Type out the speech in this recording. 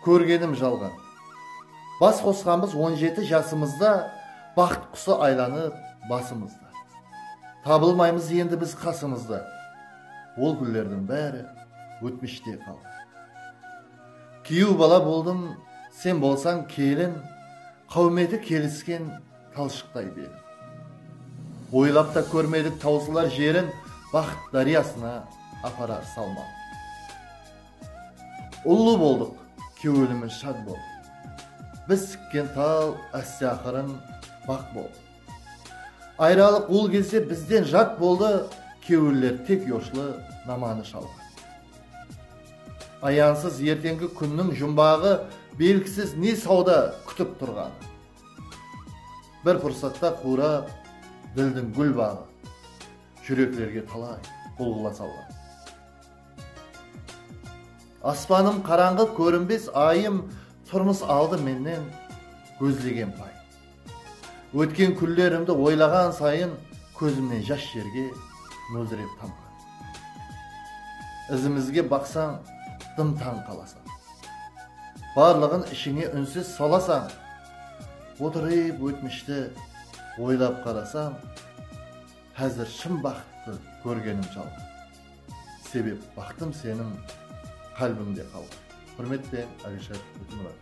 Kórgenim jalǵan. Bas qosqanbız on jeti jasımızda Baxıt qusı aylanıp basımızda. Tabılmaymız endi biz qasımızda Ol gúllerdiń bári ótmishte qaldı. Kúyew bala boldım, sen bolsań kelin, Qáwmeti kelisken talshıqtay belim. Oylap ta kórmedik tawsılar jerin Baxıt dáryasına aparar salmam. Ullı boldıq, kewilimiz shad bol. Biz tikken tal áste-aqırın baq bol. Ayralıq ul gezde bizden jat boldı, kewiller tek yoshlı namanı shalǵan. Ayansız ertengi kúnniń jumbaǵı belgisiz ne sawda kútip turǵanı. Bir pursatta quwrap dildiń gúl baǵı, júreklerge talay bulǵıla salǵan. Aspanım qarańǵı kórinbes ayım Turmıs aldı mennen gózlegen pay Ótken kúnlerimdi oylaǵan sayın Kózimnen jash jerge móldirer tamǵa Izimizge baqsań dım tań qalasań Barlıǵın ishińe únsiz salasań Otırıp ótmishti oylap qarasam Házir shın baxıttı kórgenim jalǵan. Sebep baxtım seniń qálbińde qalǵan. Húrmetpen Alishar Bekmurat.